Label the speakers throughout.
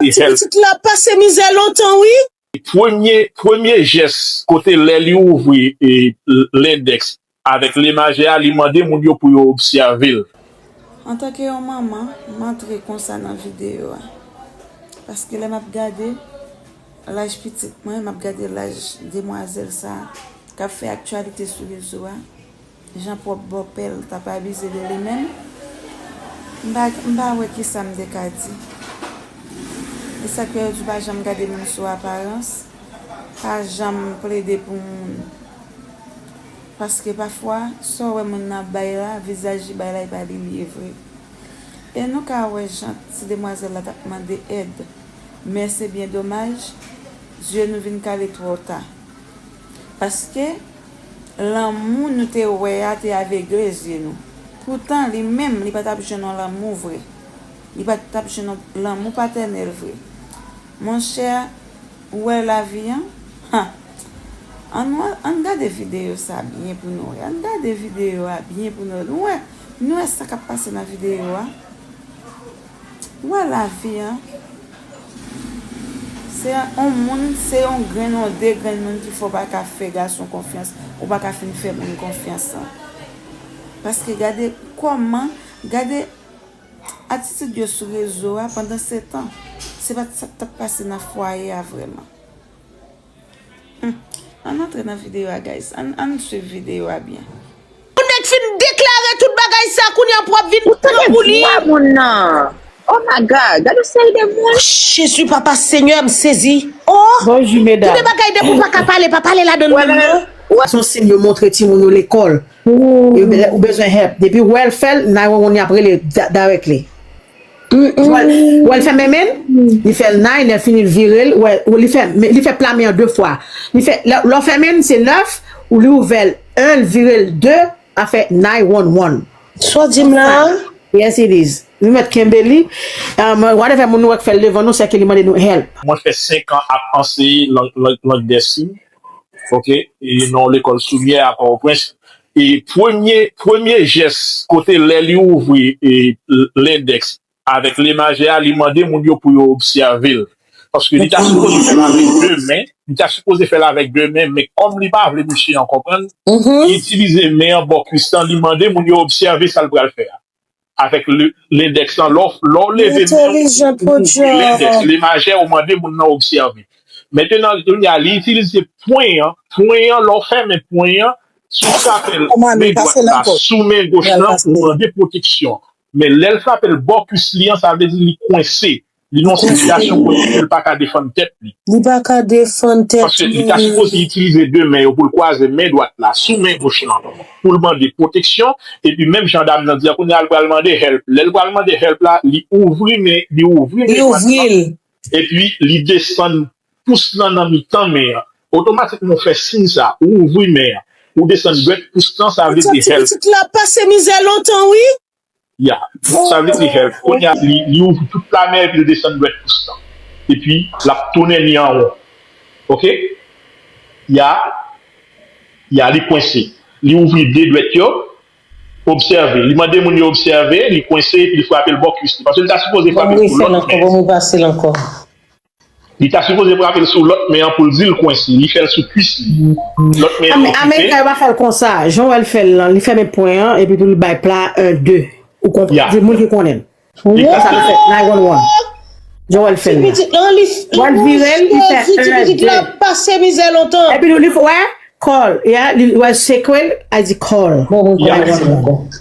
Speaker 1: Li fèl. Pitit la pase mizè lontan wi. Premye premye jès
Speaker 2: kote lè li ouvri lendèks avèk lemajè a li mande moun yo pou yo obsève l. Antanke
Speaker 3: yon manman m antre konsa nan videyo a paske lè m ap gade laj pitit mwen m ap gade laj demwazèl sa k ap fè aktyalite sou rezo a. Jan pwòp bòpè l t ap abize de li menm, m pa m pa wè ki sa m te ka di. E sa k fè yo di pa janm gade moun sou aparans, pa janm plede pou moun. Paske pafwa, sa w wè moun nan ap bay la, vizaj li bay la e pa li li ye vre. E nou ka wè jan ti demwazèl la t ap mande èd. Men se byen domaj, zye nou vin kale twò ta. Paske, lanmou nou te wè a te avegle zye nou. Poutan, li menm, li pa t ap jwenn yon lanmou vre. Li pa t ap jwenn yon lanmou patènèl vre. Monchè, ou wè lavi an? Ha! An nou al, an n gade videyo sa a byen pou nou wè. An n gade videyo a byen pou nou wè. Nou wè, nou wè sa k ap pase nan videyo a? Ou wè lavi an, se on moun, se on grenn, on de grenn moun ki fè w pa ka fè gason konfyans, ou pa ka fin fè moun konfyans an. Paske gade kòman, gade atitid yo sou rezo a pandan setan. Se pa t sa k t ap pase nan fwaye a vrèman. Humm ann antre nan video a guys ann ann swiv video a byen. Yon nèg fin
Speaker 1: deklare tout bagay sa kounya pou ap vin pran pou li. Ou tande vwa moun nan oh my
Speaker 4: God gade yon seri de moun. Jezi papa
Speaker 1: senyè m sezi oh. Bonjou medam. Gen de
Speaker 4: bagay depi w
Speaker 1: paka pale pa pale ladann menm non. Sa son sim yo
Speaker 5: montre timoun yo lekòl ou bezwen help depiw wèl fèl 911 yap rele directly. Wè l fè menmen l, li fè l nay, lè l fini l vire l, wè li fè li fè pla men an 2 fwa. Li fè lè w fèmen l se 9, ou li ouvè l 1 l vire l 2 a fè nay wonn wonn. Sa w di m
Speaker 1: la a? Yes it is.
Speaker 5: Nou mèt kenbe li. Whatever moun nou wè k fè l devan nou sè ke li mande nou help. Mwen fè 5 an
Speaker 2: ap anseye lang dè siy. ok e nan yon lekòl sou myè a pòtoprens e premye premye jès kote lè li ouvri e l endèks avèk le majè a li mande moun yo pou yo obsève l paske li ta sipoze fè l avèk de men li ta sipoze fè l avèk de men men kòm li pa vle mesye an konprann li itilize men an bò kwis lan li mande moun yo obsève sa l pral fè a avèk lendèks lan, lè w leve men w, ou ouvri lendèks, le majè, ou mande moun nan obsève. Mentenan, kounye a, li itilize pwen an, pwen an, lè w fèmen pwen an, si w frape l men dwat la sou men goch lan, ou mande pwoteksyon. Men lè l frape l bò kuis li an, sa vle di li kwense. Li nan yon sitiyasyon kote ke li pa ka defann tèt li. Li pa ka
Speaker 1: defann tèt li. Paske li ta sipoze
Speaker 2: itilize 2 men yo pou l kwaze men dwat la sou men goch lan pou l mande pwoteksyon. Epi menm jan dam nan di a kounye a li pral mande help. Lè li pral mande help la, li ouvri men dwat lan epi li desann pous lan nan mitan men an. Otomatikman ou fè siy sa, ou ouvri men an, ou desann dwèt pous lan sa vle di help. Ti pitit la ap pase mizè
Speaker 1: lontan wi. Ya,
Speaker 2: sa vle di health, kounye a li ouvri tout kanè epi l desann dwèt pous lan. Epi l ap tounen li an won. Ok. Ya, ya li kwense. Li ouvri 2 dwèt yo. Obsève. Li mande moun yo obsève, li kwense epi li frape l bò kwis li. Paske li ta sipoze frape l sou lòt men. Bon m ri fè l ankò, bon m ri pase l ankò. Li ta sipoze frape l sou lòt men an pou l di l kwense. Li fè l sou kwis li. Lòt men an okipe. Amerika yo pa fè l konsa.
Speaker 5: Jan wè l fè l lan, li fèmen pwen an epi pou li bay pla a 1, 2. Ou konprann? Se moun ki konnen l. Li fè sa, li fè 911. Jan wè l fè l la. Wè l vire l, li fè 1,
Speaker 1: 2. Epi li fè, wè,
Speaker 5: call. Wè l sekwe l, a di call. Bon, bon, bon, bon, bon.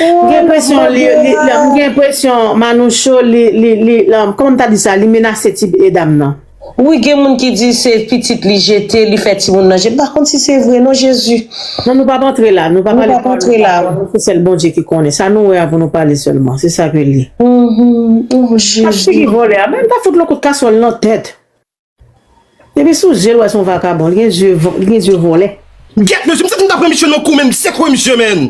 Speaker 1: M gen enpresyon
Speaker 5: li m gen enpresyon Manoucho li li li kòman m ta di sa li menase ti dam nan.
Speaker 6: Wi gen moun ki di se pitit li jete li fè timoun nan jete m pa konn si se vre non jezi. Non nou pap antre
Speaker 5: la nou pa pale pawòl nou pa wè se sèl
Speaker 6: Bondye ki
Speaker 5: konnen sa nou wè a pou nou pale sèlman se sa ke li. Ohh
Speaker 6: jezi. Ak figi vòlè a men
Speaker 5: ta fout l on kout kaswòl nan tèt. Depi sou jel wè son vakabon li gen zye vòlè. Gyèt mesye m santi m
Speaker 7: ta pran misye nan kou menm sekwe misye menn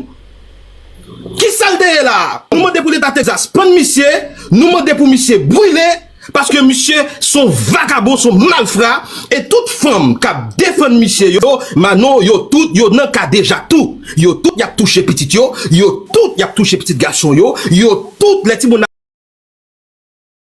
Speaker 7: Kisal te ye la Nou mande pou leta Texas pann misye Nou mande pou misye brile paske misye son vakabon son malfra e tout fanm kap defann misye yo Manon yo tout yo nan kadejak tou yo tout yap touche pitit yo yo tout yap touche pitit gason yo yo tout lè timoun